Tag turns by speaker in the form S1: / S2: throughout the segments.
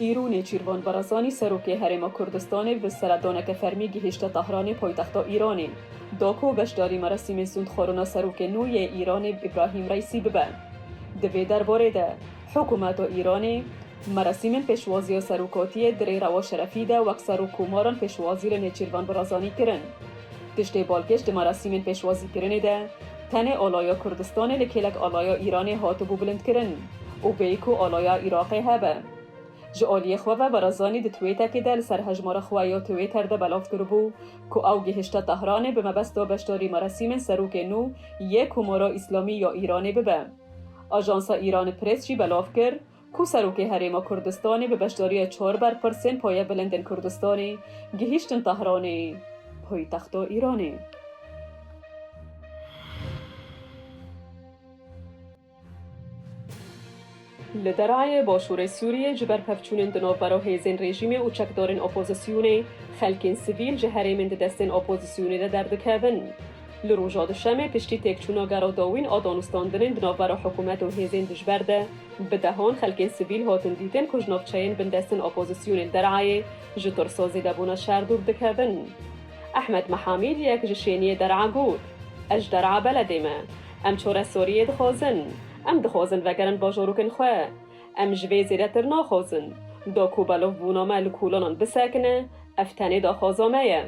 S1: Îro Nêçîrvan Barazanî Serokê Herêma Kurdistanê bi seredaneke fermî gihîşte Tahranê paytexta Îranê. Da ku beşdarî merasîmê sûndxwarina serokê nû yê Îranê Îbrahîm Reîsî bibe. Di vê derbarê de hikûmeta Îranê merasîmên pêşwaziya serokatiyê di rê rewa şerefî de wek serok komaran pêşwazî li Nêçîrvan Barazanî kirin. Tiştê balkêş di merasîmên pêşwazîkirinê de tenê alaya Kurdistanê li kêlek alaya Îranê hatibû bilindkirin û bêyî ku alaya Iraqê hebe. Ji aliyê xwe ve Barazanî di twêtekê de li ser hejmara xwe ya Twitter de belav kiribû ku ew gihişte Tehranê bi mebesta beşdarî merasîmên serokê nû yê Komara Îslamî ya Îranê bibe. Ajansa Îranê Press jî belav kir, Ku Serokê Herêma Kurdistanê bi beşdariya çar berpirsên Paya Bilindên Kurdistanê gihîştin Tehranê, poytexta Îranê. Li Derayê Başûrê Sûriyê ji ber pevçûnên di navbera hêzên rejîmê û çekdarên opozisyonê, xelkên sivîl ji herêmên di destên opozisyonê de derdikevin. Li roja Duşemê piştî têkçûna gera dawîn a danûstandinên di navbera hikûmet û hêzên dijber de, Bi dehon xelkên sivîl hotin dîtin ku ji navçeyên bindestin opozîsyonê li Derayê ji tirso zêdebûna şer dûr dikevin. Ehmed Mehamîd yek ji şêniyê Dera got, Ez ji Dera beledê me. Em çore Sûriyê dixwazin. Em dixwazin vegerin bajorokên xwe. Em ji vê zêdetir naxwazin. Do ku belovbûna me li kolanan bisekine, ev tenê daxwaza me ye.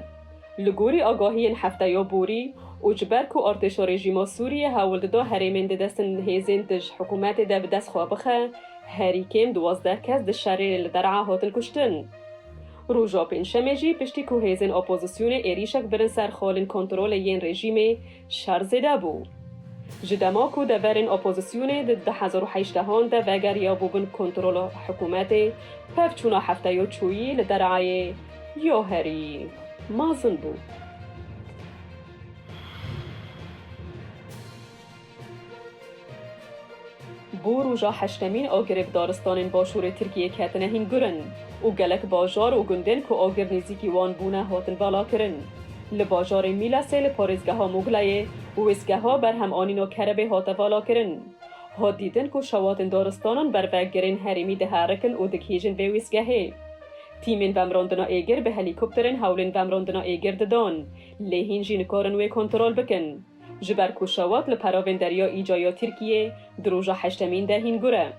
S1: Li gorî agahiyên hefteya borî û ji ber ku artêşa rejîma Sûriyê hewl dida herêmên di destên hêzên dij hikûmetê de bi dest xwe bixe, herî kêm duwazdeh kes di şerê li Der'a hatin kuştin. Roja pêncşemê jî piştî ku hêzên opozisyonê êrîşek birin ser xalên kontrolê yên rejîmê, Şer zêde bû. Ji dema ku deverên opozîsyonê di du hezar û hejdeh an de vegeriyabû bin kontrola hikûmetê, pevçûna hefteya çûyî li dereyê ya herî mezin bû. Bû roja heştemîn agirê bi daristanên başûrê Tirkiyê ketine hîngurin û gelek bajar û gundên ku agir nêzîkî wan bûne hatin valakirin. Li bajarê Mîlesê li parêzgeha Muglayê wêsgeha berhemanîna kerebê hate valakirin. Hat dîtin ku şewatên daristanan ber vegirên herêmî diherikin û digihîjin vê wêsgehê. Tîmên vemrandina êgir bi helîkopterên hewlên vemrandina êgir didan lê hîn jî nikarin wê kontrol bikin. ji ber ku şewat li peravên derya Îca ya Tirkiyê di roja heştemîn de hîn gur e.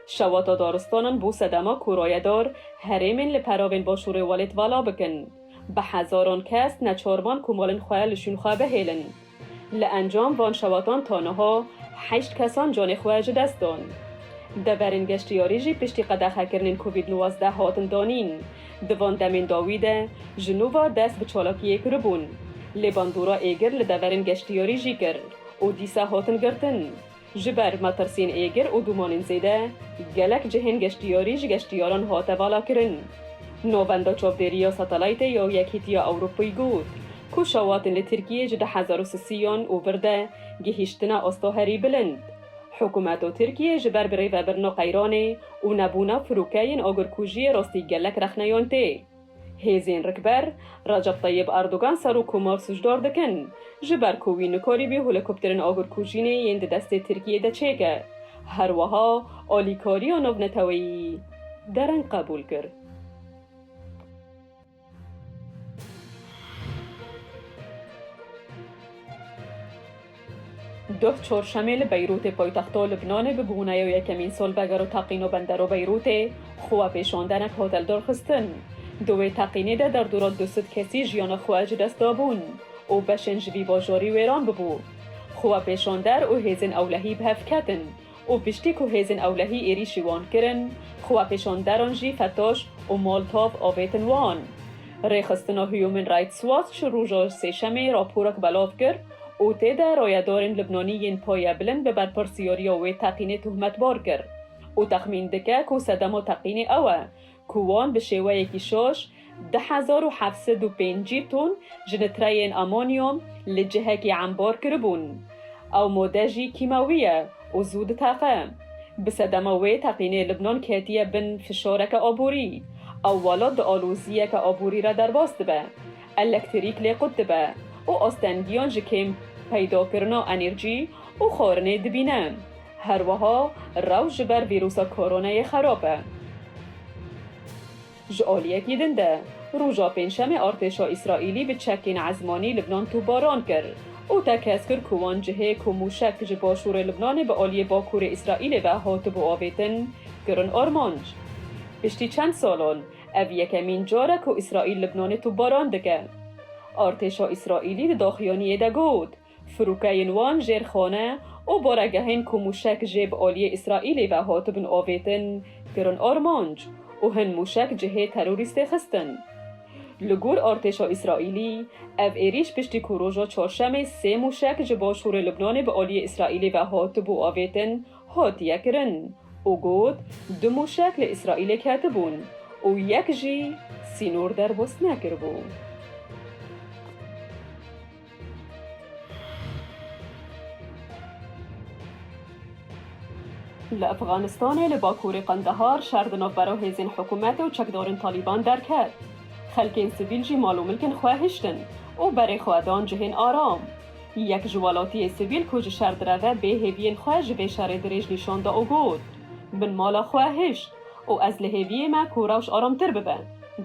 S1: Şewata daristanan bo sedema ku rayedar herêmên li peravên başûrê welêt vala bikin, bi hezaran kes neçar man ku malên xwe li şûn xwe bihêlin. Li encam van şewatan ta niha heşt kesan canê xwe ji dest dan. Deverên geştyarî jî piştî qedexekirinên covid nwazdeh hatin danîn. Di van demên dawî de ji nû ve dest bi çalakiyê kiribûn, lê bandora êgir li deverên geştyarî jî kir û dîsa hatin girtin. Ji ber metirsiyên êgir û dûmanên zêde, gelek cihên geştyarî ji geştyaran hate valakirin. Navenda Çavdêriya Satelaytê ya Yekhîtiya Ewropayê got ku şawatên li Tirkiyê ji du hezar û sisî yan û vir de gihîştine asta herî bilind. Hikûmeta Tirkiyê ji ber birêvebirina qeyranê û nebûna firokeyên agirkujiyê rastî gelek rexneyan tê. Hêzên rikber, Recep Tayyib Erdogan Serokkomar sûcdar dikin, ji ber ku wî nikarîbî holîkopterên agirkujînê yên di destê Tirkiyê de çêke. Her wiha alîkariya navneteweyî dereng qebûl kir. Duh Çorşemê li Beyrûtê poytexto Lubnanê bi bûneyo yekemîn solbeger û teqîno bendero Beyrûtê xwe we pêşan denek hotel dorxistin. Di wê teqînê de derdora du sed kesî jiyana xwe ji dest dabûn û beşên ji vî bajarî wêran bibû. Xwe we pêşan der û hêzên ewlehî bi hev ketin. û piştî ku hêzên ewlehî êrîşî wan kirin, xwepêşanderan jî Fetoş û Moltov avêtin wan. Rêxistina Huuman Rights Watch roja Sêşemê raporek belav kir û tê de rayedarên Libnanî yên paye bilind bi berpirsyariya wê teqînê tohmetbar kir û texmîn dike ku sedema teqînê ew e ku wan bi şêweyekî şoş du hezar û heft sed û pêncî ton ji nitreyên amonyum li cihekî embor kiribûn. Ew mode jî kîmewî ye û zû diteqe. Bi sedema wê teqînê Libnan ketiye bin fişareke aborî. Ew welat di aloziyeke aborî re derbas dibe, elektrîk lê qut dibe û astengiyan ji kêm peydakirina enerjî û xwarinê dibîne. Her wiha rew ji ber vîrûsa koronayê xerab e. Ji aliyekî din de, roja pêncşemê artêşa Îsraîlî bi çekên ezmanî Libnan topbaran kir û tekez kir ku wan cihê ku mûşek ji başûrê Libnanê bi aliyê bakurê Îsraîlê ve hatibû avêtin, kirin armanc. Piştî çend salan, ev yekemîn car e ku Îsraîl Libnanê topbaran dike. Artêşa Îsraîlî di daxuyaniyê de got, Firokeyên wan jêr xane û baregehên ku mûşek jê bi aliyê Îsraîlê ve hatibin avêtin kirin armanc û hin mûşek cihê terorîstê xistin. Li gor artêşa Îsraîlî, ev êrîş piştî ku roja Çarşemê sê mûşek ji başûrê Libnanê bi aliyê Îsraîlê ve hatibû avêtin hatiye kirin û got du mûşek li Îsraîlê ketibûn û yek jî sînor derbas nekiribû. Li Efxanistanê li bakurê Qendehar şer di navbera hêzên hikûmetê û çekdarên Talîban derket. Xelkên sivîl jî mal û milkên xwe hiştin û berê xwe dan cihên aram. Yek ji welatiyê sivîl ku ji şer direve bê hêviyên xwe ji vê şerê dirêj nîşan da û got, Min mala xwe hişt û ez li hêviyê me ku rewş aramtir bibe,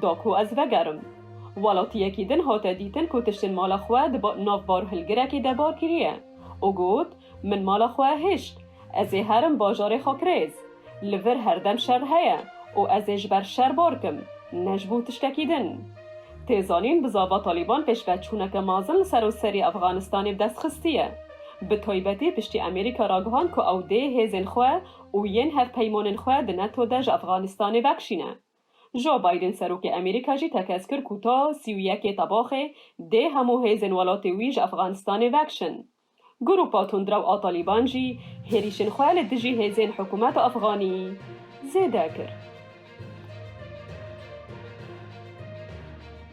S1: da ku ez vegerim. Welatiyekî din hate dîtin ku tiştên mala xwe di nav barûhilgirekê de bar kiriye û got, Min mala xwe hişt. Ez ê herim bajarê Xakrêz. Li vir her dem şer heye û ez ê ji ber şer bar kim, ne ji bo tiştekî din. Tê zanîn bi zava Talîban pêşve çûneke mezin li seroserî Efxanistanê bi dest xistiye. Bi taybetî piştî Amerîka ragihand ku ew dê hêzên xwe û yên hevpeymanên xwe di neto de ji Efxanistanê vekişîne. Joe Biden Serokê Amerîka jî tekez kir ku ta sî û yekê Tebaxê dê hemû hêzên welatê wî ji Efxanistanê vekişin. Grûpa tundrew a Talîban jî hêrîşên xwe li dijî hêzên hikûmeta Efxanî zêde kir.